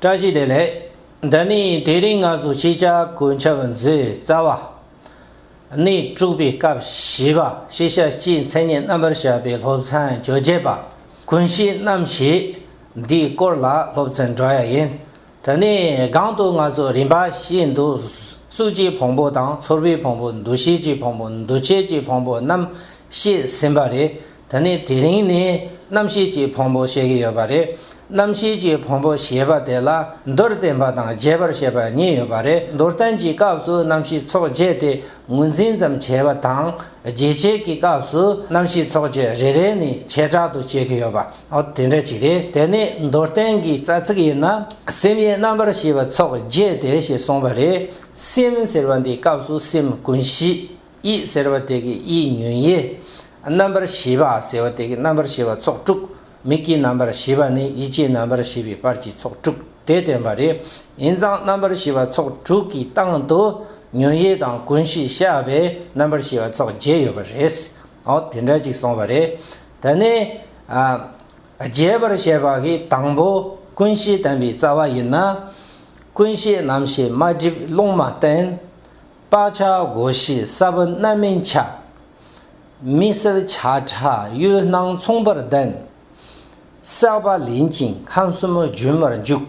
བཀྲ་ཤིས་བདེ་ལེགས། འདི་ནི་དེ་རིང་ང་ཚོ་སྤྱི་ཁྱབ་གོ་ཆབ་མཛོད་རྩ་བ་ནས་དཀྲུགས་པའི་སྐབས་བཞི་པ་ཤེས་བྱ་སྤྱིའི་མཚན་ཉིད་རྣམ་པར་བཞག་པའི་སློབ་ཚན་བཅོ་བརྒྱད་པ་ཀུན་གཞིའི་རྣམ་བཤད་འདིའི་སྐོར་ལ་སློབ་ཚན་སྒྲོག་ཡ་ཡིན། དེ་ནས་སྒང་དུ་ང་ཚོ་རིམ་པ་ཤེས་འདུག་གཟུགས་ཀྱི་བོང་བུ་དང་ཚོར་བའི་བོང་བུ་འདུ་ཤེས་ཀྱི་བོང་བུ་འདུ་བྱེད་ཀྱི་བོང་བུ་རྣམས་བཤད་ཟིན་པ་རེད། ད་ནི་དེ་རིང་ནི་རྣམ་ཤེས་ཀྱི་ཕུང་པོ་བཤད་ཀྱི་ཡོད་པ་རེད། རྣམ་ཤེས་ཀྱི་ཕུང་པོ་ཞེས་པ་དེ་ལ་མདོར་བསྟན་པ་དང་རྒྱས་པར་བཤད་པ་གཉིས་ཡོད་པ་རེད་མདོར་བསྟན་གྱི་སྐབས་སུ་རྣམ་ཤེས་ཚོགས་བརྒྱད་དེ་ངོས་འཛིན་ཙམ་བྱས་པ་དང། རྒྱས་བྱེད་ཀྱི་སྐབས་སུ་རྣམ་ཤེས་ཚོགས་བརྒྱད་རེ་རེ་ནི་བྱེ་བྲག་ཏུ་བཤད་ཀྱི་ཡོད་པ་དེ་འདྲ་ཞིག་རེད་དེ་ནི་མདོར་བསྟན་གྱི་རྩ་ཚིག་ཡིན་ན། སེམས་ཡིན་རྣམ་པར་ཤེས་པ་ཚོགས་བརྒྱད་དེ་ཞེས་གསུངས་པ་རེད། སེམས་ཟེར་བ་འདིའི་སྐབས་སུ་སེམས་ཀུན་གཞི། དབྱིག་ཟེར་བ་དེ་གིས་དབྱིག་ཉོན་དབྱེ། རྣམ་པར་བཞི་པ་ཟེར་བ་དེ་གིས་རྣམ་པར་བཞི་པ་ཚོགས་དྲུག། མིག་གི་རྣམ་པར་བཞི་པ་ནི་ཡིད་ཀྱི་རྣམ་པར་བཞི་པའི་བར་གྱི་ཚོགས་དྲུག་དེ་སྟོན་པ་རེ་ཡིན་ཙང་རྣམ་པར་བཞི་པ་ཚོགས་དྲུག་གི་སྟེང་དུ་ཉོན་དབྱེ་དང་ཀུན་གཞི་བཤད་པས་རྣམ་པར་བཞི་པ་ཚོགས་བརྒྱད་ཡོད་པ་རེད། འོ་དེ་འདྲ་ཅིག་སོང་བ་རེད། ད་ནི། རྒྱས་པར་བཤད་པ་གིས་དང་པོ་ཀུན་གཞི་བསྟན་པའི་རྩ་བ་ཡིན་ན། ཀུན་གཞི་རྣམ་ཤེས་མ་བསྒྲིབས་རླུང་མ་བསྟན། སྤགས་ཆགས་སྒོ་བཞི་ས་བོན་རྣམ་སྨིན་ཆགས། མི་སེལ་བྱ་ཁྲག་གཡོས་སྣང་མཚུངས་པར་ལྡན། བསྲེག་པ་ལེན་ཅིང་ཁམས་གསུམ་རྒྱུན་མར་འཇུག།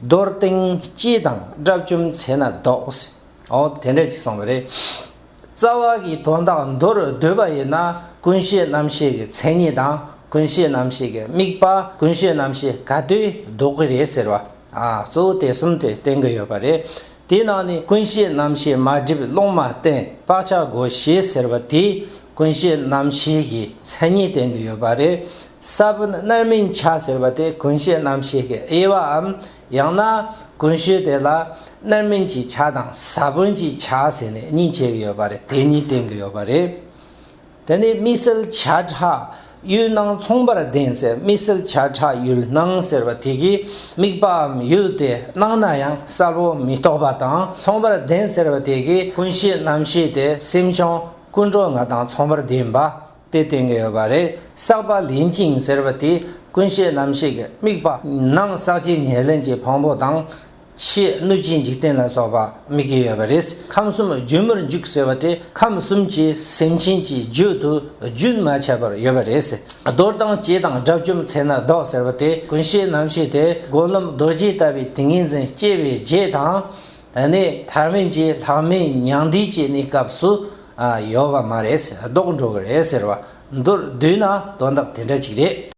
རྡོར་སྟེང་སྤྱི་དང་དགྲ་བཅོམ་ཚེ་ན་ཟློག། འོ་དེ་འདྲས་ཅིག་སོང་བ་རེད། རྩ་བ་གི་དོན་དག་མདོར་བསྡུས་པ་ཡིན་ན་ཀུན་ཤེས་རྣམ་ཤེས་ཀྱི་མཚན་ཉིད་དང་ཀུན་ཤེས་རྣམ་ཤེས་ཀྱི་དམིགས་པ་ཀུན་ཤེས་རྣམ་ཤེས་ག་དུས་ཟློག་གི་རེད་ཟེར་བ། གཙོ་བོ་དེ་གསུམ་དེ་བསྟན་གྱི་ཡོད་པ་རེད། དེའི་ནང་ནས་ཀུན་བཤད་རྣམ་བཤད་མ་བསྒྲིབས་སློང་མ་བསྟན་བཀག་ཆག་སྒོ་ཞེས་ཟེར་བ་དེ་ཀུན་བཤད་རྣམ་བཤད་ཀྱི་མཚན་ཉིད་བསྟན་དུ་ཡོད་པ་རེད། གསར་བུ་རྣལ་མིང་ཆག་ཟེར་བ་དེ་ཀུན་བཤད་རྣམ་བཤད་ཀྱི་དབྱེ་བའམ་ཡང་ན་ཀུན་བཤད་དེ་ལ་རྣལ་མིང་གྱི་ཆག་དང་ས་བོན་གྱི་ཆག་ཟེར་ནས་གཉིས་ཕྱེ་གི་ཡོད་པ་རེད་དེ་གཉིས་བསྟན་གི་ཡོད་པ་རེད། དེ་ནི་དམིགས་བསལ་བྱ་བྲག་ཡུལ་སྣང་མཚུངས་པར་ལྡན་ཚེ་དམིགས་བསལ་བྱ་བྲག་ཡུལ་སྣང་ཟེར་བ་དེ་གའི་དམིགས་པའམ་ཡུལ་དེ་སྣང་ན་ཡང་གསལ་པོ་མི་རྟོག་པ་དང་མཚུངས་པར་ལྡན་ཟེར་བ་དེ་གའི་ཀུན་གཞི་རྣམ་ཤེས་དེ་སེམས་བྱུང་ཀུན་འགྲོ་ལྔ་དང་མཚུངས་པར་ལྡན་པ་དེ་བསྟན་གྱི་ཡོད་པ་རེད་བསགས་པ་ལེན་ཅིང་ཟེར་བ་དེ་ཀུན་གཞི་རྣམ་ཤེས་ཀྱི་དམིགས་པ་སྣང་བསགས་ཇི་སྙེད་ལེན་གྱི་ཕུང་པོ་དང། ཕྱིའི་གནོད་སྦྱིན་འཇིག་རྟེན་ལ་སོགས་པ་དམིགས་ཀྱི་ཡོད་པ་རེད་ཁམས་གསུམ་རྒྱུན་མར་འཇུག་ཟེར་བ་དེ་ཁམས་གསུམ་གྱི་སེམས་ཅན་གྱི་རྒྱུད་དུ་རྒྱུན་མ་ཆད་པར་ཡོད་པ་རེད། རྡོར་དང་བཅས་དང་དགྲ་བཅོམ་ཚེ་ན་བཟློག་ཟེར་བ་དེ་ཀུན་ཤེས་རྣམ་ཤེས་དེ་དགོན་ལམ་རྡོ་རྗེ་ལྟ་བུའི་ཏིང་ངེ་འཛིན་སྐྱེ་བའི་རྗེས་དང། དེ་ནས་ཐར་མེད་ཀྱི་ལྷག་མའི་མྱང་འདས་ཀྱི་གནས་སྐབས་སུ་ཡོད་པ་མ་རེད་བཟློག་འགྲོ་གི་རེད་ཟེར་བ་འདིར་བསྡུས་ན་དོན་དག་དེ་འདྲ་ཅིག་རེད།